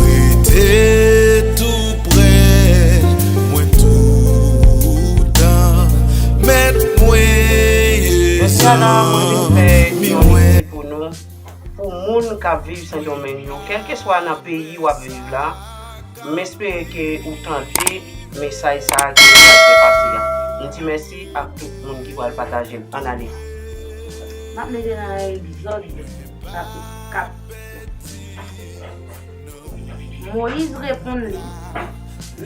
Rete tou prè mwen toutan mèt mwen yeyon. Pou moun kap viv sendomeng yo kelkeswa nan peyi wap viv la m espere ke ou tande mesaj sa a ke m pral fè pase a m di mèsi ak tout moun ki pral pataje l an ale. Map mete nan egzòd kap. Moyiz reponn li,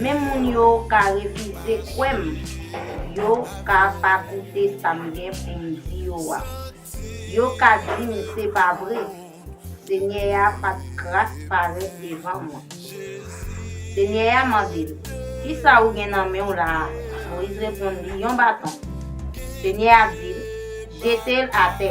Men moun yo ka refize kwè m, yo ka pa koute sa m gen pou m di yo a. Yo ka di m se pa vre, Senyè a pa t kras parèt devan mwen. Senyè a mande l, Ki sa ou gen nan men w la a? Moyiz reponn li, Yon baton. Senyè a di l, Jete l atè.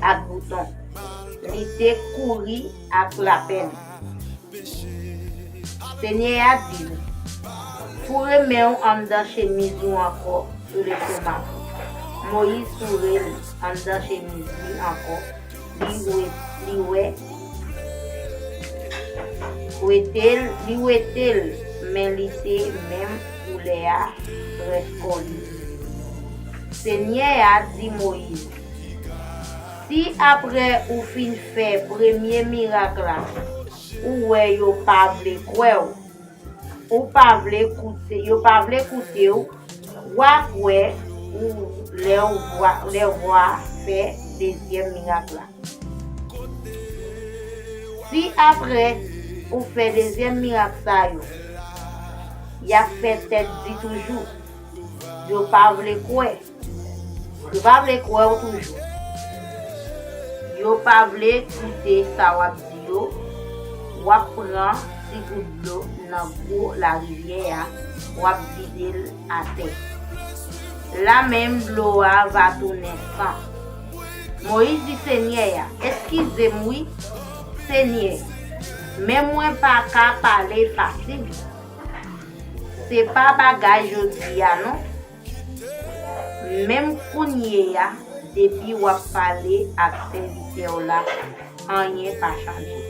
ak bouton. Li te kouri ak lapenn. Senyè a di l, Foure men w anndan chemiz ou ankò sou lestomak ou. Moyiz foure l anndan chemiz li ankò, li wete l men li te menm koulè a rès kò li. Senyè a di Moyiz. Si aprè ou fin fè premye mirak la ou wè yo pa vle kwè w, ou pa vle koute, yo pa vle koute w, wa kwè ou lè w vwa, lè wa fè dezyèm mirak la. Si aprè ou fè dezyèm mirak sa yo, yap fè tèt di toujou, yo pa vle kwè. Yo pa vle kwè w toujou. Yo pa vle koute sa w ap di yo, w ap pran ti gout dlo nan gwo larivyè a, w ap vide l atè. La menm dlo a va tounen san. Moyiz di Senyè a, Eskize m wi, Senyè, men mwen pa ka pale fasil. Se pa bagay jodi a non. Menm kounyeya depi wap pale ak sèvitèw la anyen pa chanje.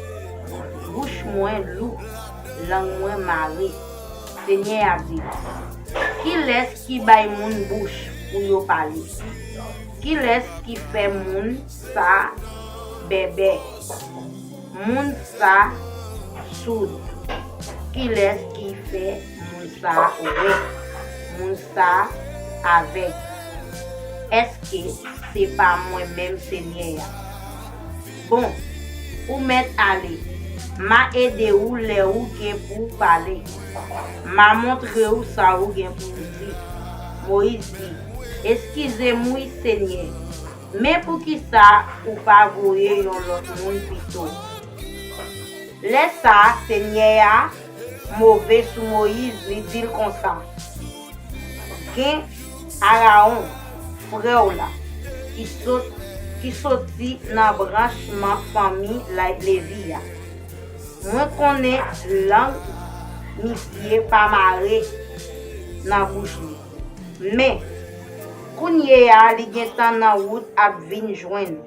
Bouch mwen lou, lang mwen mare. Senyè a di nou, Kilès ki bay moun bouch pou yo pale? Kilès ki fè moun sa bèbè, moun sa soud? Kilès ki fè. Moun sa wont. Moun sa avèg. Èske se pa mwen menm Senyè a? Bon, ou mèt ale. M'a ede ou lè ou gen pou ou pale. M'a montre ou sa ou gen pou ou di. Moyiz di, Eskize m wi, Senyè. Men poukisa ou pa voye yon lòt moun pito? Lè sa a, Senyè a move sou Moyiz, li di l konsa, Gen Arawon, frè w la, ki sot, ki soti nan branchman fanmi layb Levi a. Mwen konnen lang misye pa mare nan bouch li. Men, kounyeya li gentan nan wout ap vin jwenn ou.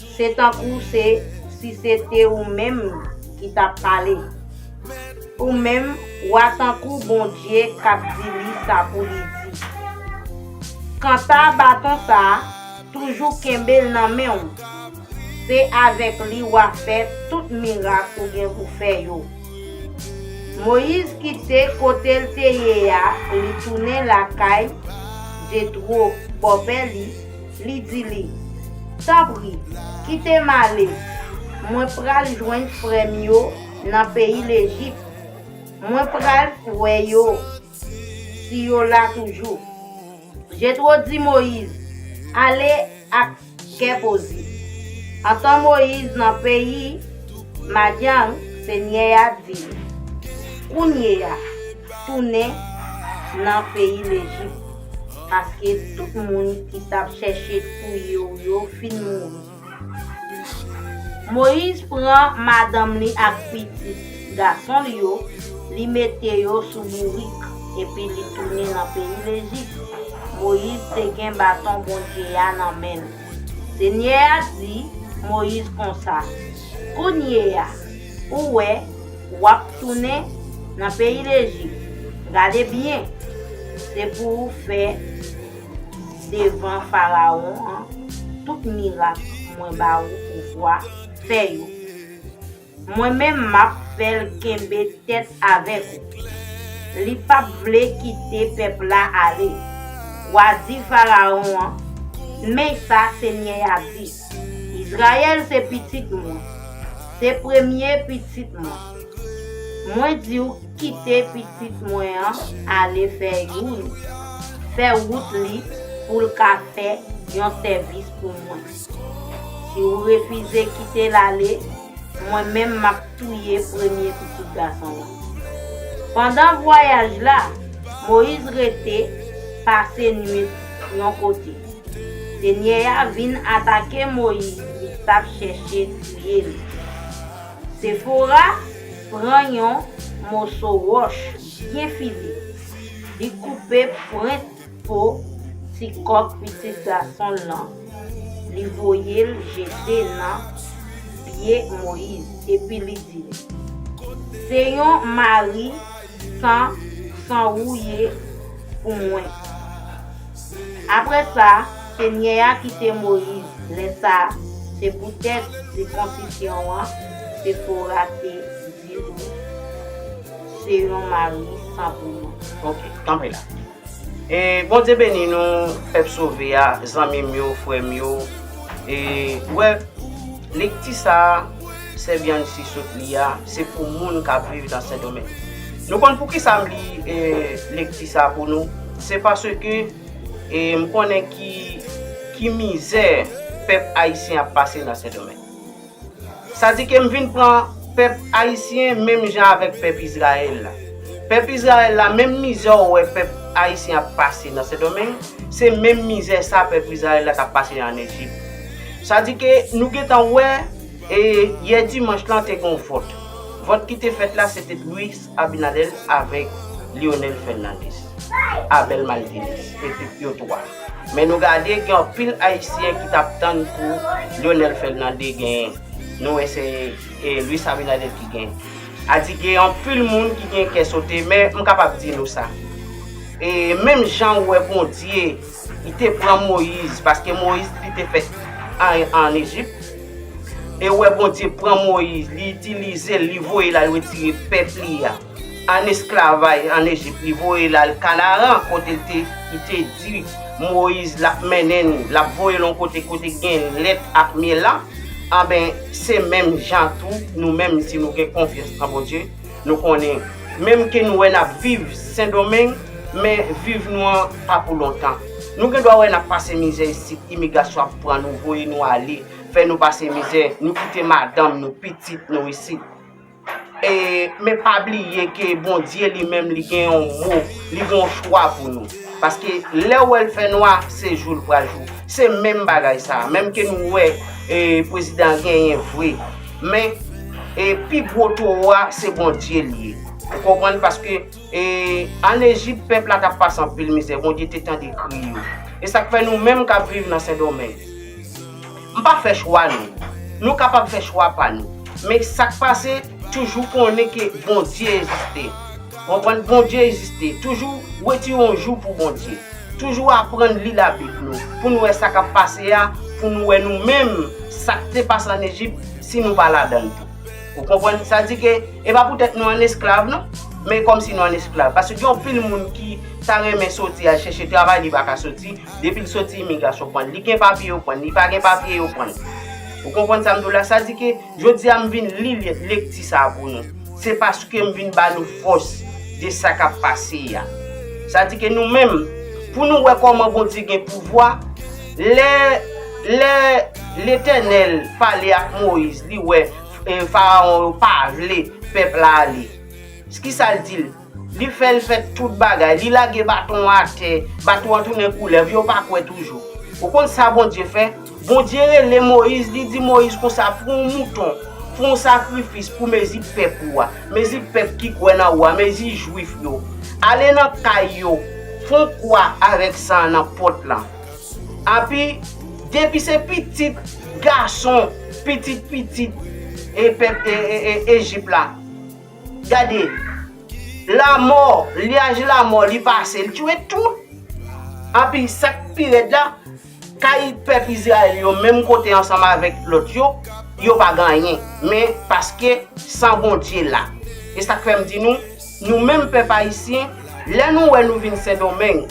Se tankou se si se te ou menm ki t ap pale. Ou menm, w a tankou Bondye k ap di li sa pou li di. Kanta baton sa a, toujou kenbe l nan men w. Se avèk li w a fè tout mirak ou gen pou fè yo. Moyiz kite kote l te ye a li tounen lakay Jetwo, bòpè li, Li di li, Tanpri, kite m ale, mwen pral jwenn frè m yo nan peyi Lejip. Mwen pral wè yo, si yo la toujou. Jetwo di Moyiz, Ale ak kè poze. Antan Moyiz nan peyi Madyan, Senyè a di l, Kounye a, tounen nan peyi Lejip. Paske tout moun ki t ap chèche touye w yo fin mouri. Moyiz pran madanm li ak pitit gason l yo, li mete yo sou bourik, epi li tounen nan peyi Lejip. Moyiz te gen baton Bondye a nan men l. Senyè a di Moyiz konsa, Kounyeya, Ou wè, w'ap tounen nan peyi Lejip. Gade byen, se pou ou fè devan Farawon an tout mirak mwen ba ou pouvwa fè yo. Mwen menm m'ap fè l' kenbe tèt avèk ou. Li p'ap vle kite pèp la ale. W'a di Farawon an, 'Men sa Senyè a di. Israël se pitit mwen. Se premye pitit mwen. Mwen di w kite pitit mwen an ale fè youn fè wout li pou l ka fè yon sèvis pou mwen. Si w refize kite l ale, Mwen menm map touye premye pitit gason lan. Pandan vwayaj la, Moyiz rete pase nwit yon kote. Senyè a vin atake Moyiz li tap chèche touye li. Sefora pran yon moso wòch byen file, li koupe pwent Po ti kòk pitit gason l lan, li voye l jete nan pye Moyiz, epi li di l, Se yon mari san san ou ye pou mwen. Apre sa, Senyè a kite Moyiz lè sa a, se poutèt sikonsisyon an Sefora te Se yon mari san pou mwen. Ok, tanpri la. E Bondye beni nou pèp sove a, zanmi m yo, frè m yo. E ou wè, lekti sa a, sè Bianchi sot li a, se pou moun k ap viv nan Sendomeng. Nou konn pou ki sa m li lekti sa a pou nou? Se paske m konnen ki mizè pèp ayisyen ap pase nan Sendomeng. Sa di ke m vin pran pèp Ayisyen menm jan avèk pèp Izrayèl la. Pèp Izrayèl la, menm mizè ou wè pèp Ayisyen ap pase nan Sendomeng, se menm mizè sa pèp Izrayèl la t ap pase an Ejip. Sa di ke nou gen tan wè, e yè dimanch lan te gen yon vòt. Vòt ki te fèt la se te wi, Abinader avek Lionel Fernandez, Abel Malvines epi yo 3. Men nou gade gen anpil ayisyen ki tap tann pou Lionel Fernandez gen, nou wè se Luis Abinader ki gen. A di gen anpil moun ki gen kè sote men m kapab di nou sa. E menm jan ou wè Bondye. Li te pran Moyiz, paske Moyiz li te fèt an Ejip. E wè Bondye pran Moyiz, li itilize l, li voye l al retire pèp li a ann esklavay ann Ejip, li voye l al Kanaran kote l te, li te di Moyiz l ap mennen nou, l ap voye l yon kote kote gen lèt ak myèl la, anben se menm jan tou nou menm si nou gen konfyans nan Bondye, Nou konnen, menm ke nou wè nap viv Sendomeng, men viv nou an pa pou lontan. Nou gen dwa wè nap pase mizè isit, imigrasyon ap pran nou, voye nou ale, fè nou pase mizè, nou kite madanm nou, pitit nou isit. E, men pa bliye ke Bondye li menm li gen yon mo, li gen yon chwa pou nou. Paske, lè ou wè l fè nwa, se jou l pral jou. Se menm bagay sa a, menm ke nou wè, e, prezidan an genyen vre. Men e pi gwo towo a se Bondye li ye. Ou konprann paske e an Ejip pèp la tap pase anpil mizè Bondye te tande kri yo. E sak fè nou menm kap viv nan Sendomeng. M pa fè chwa nou. Nou kapab fè chwa pa nou. Men sak pase toujou konnen ke Bondye eziste. Konprann Bondye eziste. Toujou wetire yon jou pou Bondye. Toujou aprann li labib nou pou nou wè sa kap pase a pou nou wè nou menm sak te pase an Ejip si nou pa ladann tou ou konprann sa di ke e pa poutèt nou an esklav non men kòmsi nou an esklav paske gen yon pil moun ki ta renmen soti al chèche travay li pa ka soti depil soti imigrasyon prann li gen papye yo prann li pa gen papye yo prann ou konprann sa m di w la sa di ke Jodi a m vin li lekti sa a pou nou. Se paske m vin ba nou fòs de sa k ap pase a. Sa di ke nou menm, pou nou wè kòman Bondye gen pouvwa, lè, lè Letènèl pale ak Moyiz, li wè Farawon yo pa vle pèp la ale. Kisa l di l? Li fè l fè tout bagay. Li lage baton an atè. Baton an tounen koulèv. Yo pa kwè toujou. Ou konn sa Bondye fè? Bondye rele Moyiz, li di Moyiz konsa, Pran yon mouton. Fè yon sakrifis pou mezi pèp ou a. Mezi pèp ki kwè nan ou a. Mezi Juif yo. Ale nan kay yo. Fè yon kwa avèk san an nan pòt lan. Anpi, depi se pitit gason, pitit pitit e pèp Ejip la. Gade, lamò, lyaj lamò li pase, li tchouwe tout. Anpi, sa k pi rèd la, kay pèp Izrayèl yo menm kote ansanm avèk lòt yo, yo pa gen anyen. Men, paske, san Bondye la. E sa k fè m di nou, nou menm pèp Ayisyen, lè nou wè nou vin Sendonmeng,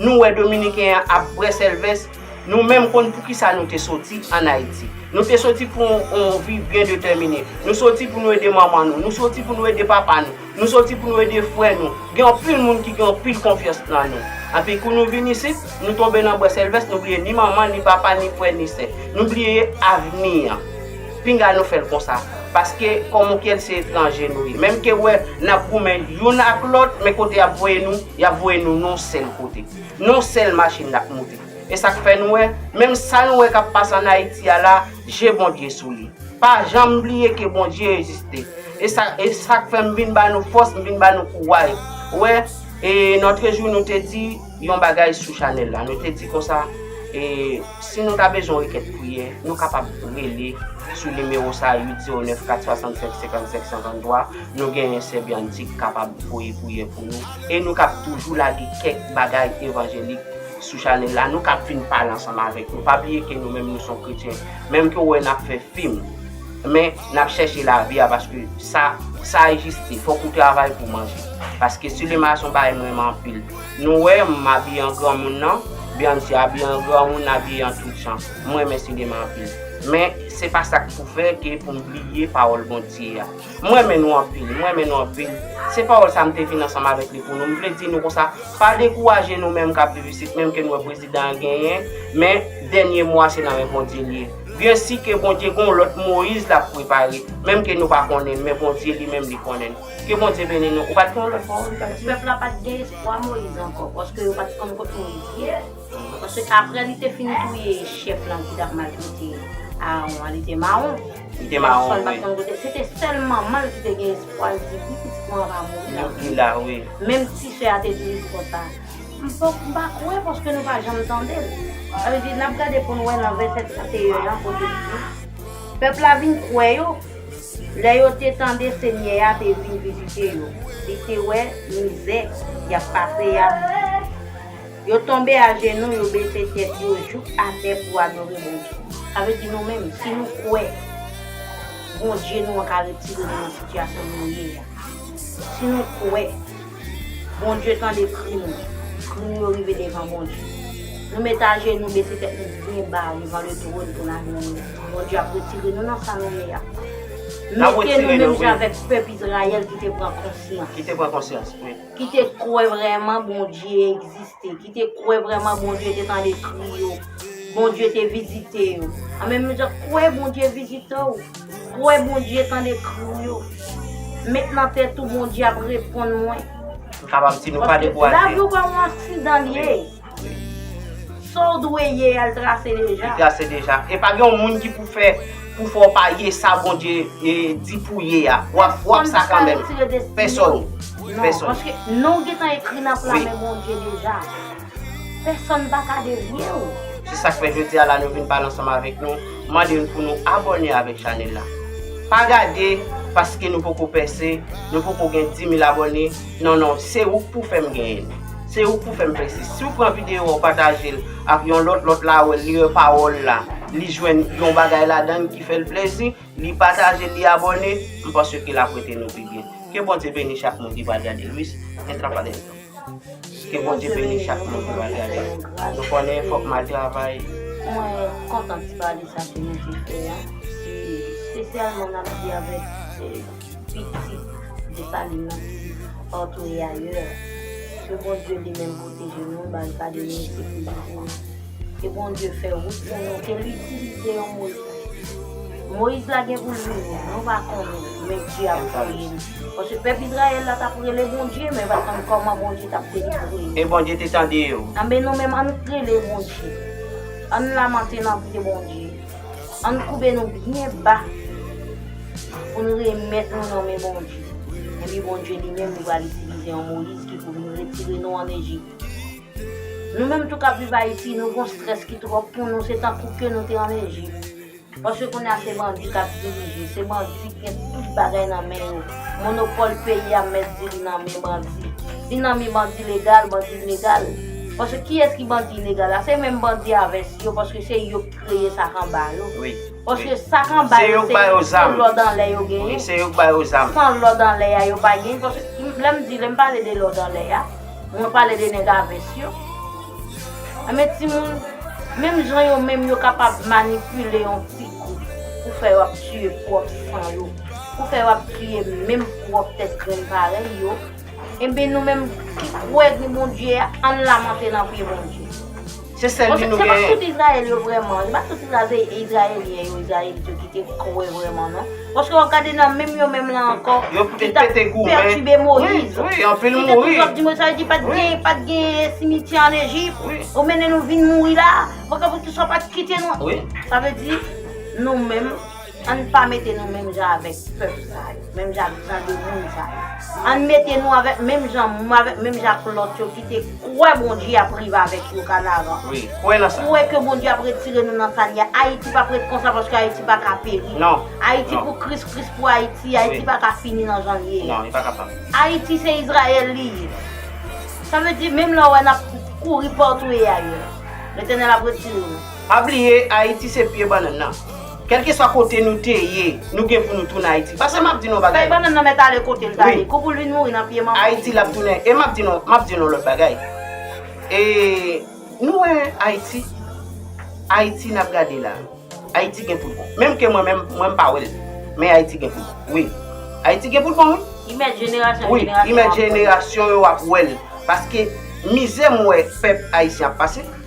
nou wè Dominiken an ap brèsèlvès, Nou menm konn poukisa nou te soti an Ayiti. Nou te soti pou yon vi byen detèmine. Nou soti pou nou ede manman nou. Nou soti pou nou ede papa nou. Nou soti pou nou ede frè nou. Gen anpil moun ki gen anpil konfyans nan nou. Anpi kou nou vin isit, nou tonbe nan bwè sèlvès, nou bliye ni manman, ni papa, ni frè, ni sè. Nou bliye avni an. Pinga nou fè l konsa. Paske kòmonkyèl se etranje nou ye. Menm ke wè n ap goumen youn ak lòt, men kote y ap voye nou, y ap voye nou yon sèl kote. Non sel machine lap moute. Esak fè nou wè menm sa nou wè kap pase an ayiti a la je bondye sou li pa janm bliye ke bondye eziste esak fèm vin ba nou fòs m vin ba nou kouwaj wè e notre jou nou te di yon bagay sou chanèl la nou te di konsa e si nou ta bezwen yon kèk priyè nou kapab rele sou nimewo sa 809 467 55 53 nou genyen sè Bianchi ki kapab voye priyè pou nou. E nou kap toujou lage kèk bagay evanjelik sou chanèl la, nou kap vin pale ansanm avèk nou. Pa bliye ke nou menm nou son kretyen. Menm ke w wè nap fè fim, men nap chèche lavi a paske sa sa egziste. Fòk ou travay pou manje. Paske sinema a son bagay m renmen anpil. Nou wè m m abiye an granmoun nan, Beyoncé abiye an granmoun, abiye an tout jan. M renmen sinema anpil. Men se pa sak pou fè ke pou m bliye pawòl Bondye a. M renmen nou anpil, m renmen nou anpil. Se pawòl sa m te vin ansanm avèk li pou nou. M vle di nou konsa, pa dekouraje nou menm k ap viv isit, menm ke n wè prezidan an genyen, men dènye mo a se nan men Bondye li ye. Byen si ke Bondye gen yon lòt Moyiz l ap prepare, menm ke nou pa konnen l, men Bondye li menm li konnen l. Ke Bondye beni nou. Ou pa t gen yon lòt pawòl ou ta di? Pèp la pa t gen espwa Moyiz ankò, paske yo pa t konn kot Moyiz ye. Paske aprè li te fin touye chèf lan ki tap maltrete Aaron an, li te mawon. Li te mawon, wi. Pèsòn pat konn kote. Se te sèl manman l ki te gen espwa, li di, wi, pitit mwen an va mouri la. Mouri la, wi. Menm ti sè a te di li di konsa, M pa kwè paske nou pa janm tande l. Sa vle di, n ap gade pou n wè nan vèsè 31 an kote li di, Pèp la vin kwè yo, lè yo te tande Senyè a te vin vizite yo, li te wè mizè y ap pase a. Yo tonbe ajenou, yo bese tèt yo jouk atè pou adore Bondye. Sa vle di nou menm, si nou kwè Bondye nou an ka retire nou nan sitiyasyon nou ye a, si nou kwè Bondye tande kri nou, kri nou yo rive devan Bondye, nou met ajenou, bese tèt nou byen ba devan letwòn pou n adore L, Bondye ap retire nou nan sa nou ye a. Mete nou menm jan avèk pèp Izrayèl ki te pran konsyans. ki te kwè vrèman Bondye egziste, ki te kwè vrèman Bondye te tande kri yo, Bondye te vizite yo. An menm jan kwè Bondye vizite w, kwè Bondye tande kri w yo. Met nan tèt ou Bondye ap reponn mwen. Paske lavi w pa yon aksidan li ye. Saw dwe ye a l trase deja. Li trase deja. E pa gen yon moun ki pou fè pou fè w pa ye sa Bondye di pou ye a. Wap wap sa kanmenm. Pèsòn. Pèsòn. Paske non w gentan ekri nan pla men Bondye deja. Pèsòn pa ka devye w. Se sak fè jodi a la nou vin pale ansanm avèk nou. Mande nou pou nou abòne avèk chanèl la. Pa gade paske nou poko pèse, nou poko gen 10000 abòne. Non non se ouk pou fèm genyen li se ouk pou fèm fè si siw pran video a ou patajel ak yon lòt lòt la wèl li wè pawòl la li jwenn yon bagay ladann ki fèl plezi li patajel li abòne m panse ke lap rete nou pi byen ke Bondye beni chak moun ki pral gadel wi se entra pa dentro ke Bondye beni chak moun ki pral gadel nou konnen fòk mal travay. Mwen kontan ti pale sa ke nou te fè a espesyalman nap di avèk. Pitit Dessalines nan di, partout et ailleurs, ke Bondye li menm pwoteje nou, ba n kade nou, sekirize nou. Ke Bondye fè wout pou nou, ke l itilize yon Moyiz. Moyiz la gen pou l vini, nou pa konnen, men Dye ap voye l. Paske pèp Izrayèl la t ap rele Bondye, men yo pa t konn kòman Bondye t ap delivre yo. E Bondye te tande yo. Anben nou menm, an n rele Bondye. An n lamante nan pye Bondye. Ann koube nou byen ba pou n remèt nou nan men Bondye. Epi Bondye li menm li pral itilize yon Moyiz ki pou vin retire nou ann Ejip. Nou menm tou k ap viv Ayiti, nou gon strès ki twòp pou nou, se tankou ke nou te ann Ejip. Paske kounye a se bandi k ap dirije, se bandi ki gen tout bagay nan men yo. Monopòl peyi a mèt di li nan men bandi. Li nan men bandi legal, bandi ilegal. Paske kiyès ki bandi ilegal la? Se menm bandi a vès yo paske se yo k. kreye sak anba yo. Wi. Paske sak anba yo se san lòd anlè yo genyen. Wi, se yo k ba yo zam. San lòd anlè a yo pa genyen. Paske lè m di, lè m pale de lòd anlè a, mwen pale de nèg a vès yo. Enben timoun, menm jan yo menm yo kapab manipile yon ti gwoup pou fè yo ap tiye pwòp san yo, pou fè yo ap tiye menm pwòp tèt grenn parèy yo, enben nou menm ki kwè gen Bondye a, ann lamante nan pye Bondye. Se sèl li nou genyen. Se pa tout Israel yo vreman. Se pa tout Israelien yo, Israelite yo ki te kwe vreman non. Paske wap gade nan menm yo menm lan anko. Yo te pete goumen. Ki ta pertube Moise. Oui, oui, anpil mouri. Ki te toujou ap di Moise. Sa vle di pat gen, pat gen simityè an Egypt. Oui. Ou mennen nou vin mouri la. Pou sa pat kite nou. Oui. Sa vle di nou menm. Ann pa mete nou menm jan avèk pèp sa yo, menm jan ak jan de moun sa yo. Ann mete nou avèk menm jan avèk menm jan ak lòt yo ki te kwè Bondye ap rive avèk yo kanaran. Wi, kwè nan sa. Kwè ke Bondye ap retire nou nan sa n ye a. Ayiti pap ret konsa paske Ayiti pa ka peri. Non, non. Ayiti pou Kris, Kris pou Ayiti. Ayiti pa ka fini nan jan l ye a. Non, li pa kapab. Ayiti se Izrayèl li ye. Sa vle di menm lè w wè n ap kouri patou e ayè, Letènèl ap retire nou. Pa bliye Ayiti se pye bannann nan. Kelkeswa kote nou te ye, nou gen pou nou tounen Ayiti. Pase map di nou yon bagay. Fèy bannann nan mèt ale kote l ta ye. Kou pou l vin mouri nan pye manman l. Ayiti lap tounen. E map di nou, map di nou yon lòt bagay. E nou wè Ayiti, Ayiti nap gade la, Ayiti gen pou l bon. Menm ke mwen menm, mwen m pa wè l. Men Ayiti gen pou l bon. Wi. Ayiti gen pou l bon wi. Li mèt jenerasyon an jenerasyon ap wè l. Wi. Li mèt jenerasyon yo ap wè l. Paske mizè m wè pèp Ayisyen ap pase.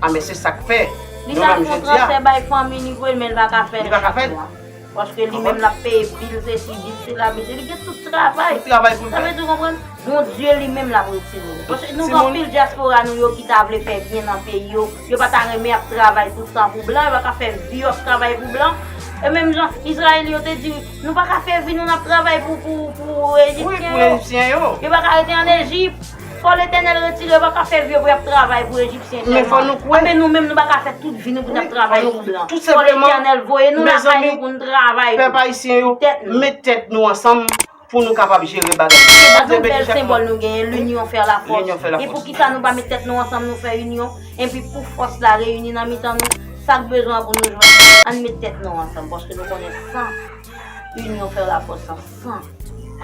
Ah men se sak fè Li ta fon transfè bay fanmi li vre menl pa ka fèl chak mwa. Paske li menm lap peye bil sesi bil sela mesye li gen tout travay. Sa vle di ou konprann? Bondye li menm lap retire l. Paske nou gen anpil dyaspora nou yo ki ta vle fè byen nan peyi yo. Yo pa ta renmen ap travay tout tan pou blan. Yo pa ka fè vi yo ap travay pou blan. E menm jan Izrayèl yo te di nou pa ka fè vi nou nap travay pou ejipsyen yo. Yo pa ka rete an Ejip. Fò Letènèl retire pa ka fè vye vre ap travay pou Ejipsyen sèlman. Anben nou menm nou pa ka fè tout vi nou pou n'ap travay pou blan. Fò Letènèl voye nou lakay nou pou nou travay pou tèt nou. Met tèt nou ansanm pou nou kapab jere bagay yo. Se pa tout bèl senbòl nou genyen, l'union fè la force. E poukisa nou pa met tèt nou ansanm nou fè union, enpi pou fòs la reyini nan mitan nou, sak bezwen an pou nou jwenn li. Ann met tèt nou ansanm paske nou konnen san union fè la force. san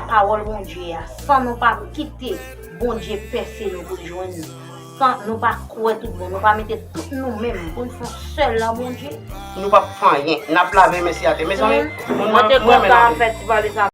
pawòl Bondye a, san nou pa kite Bondye pèse nou pou l jwenn nou, san nou pa kwè tout bon, nou pa mete tout nou menm pou n fon sèl nan Bondye, nou pap fè anyen, nap lave men se atè, mezanmi mwen renmen lave men.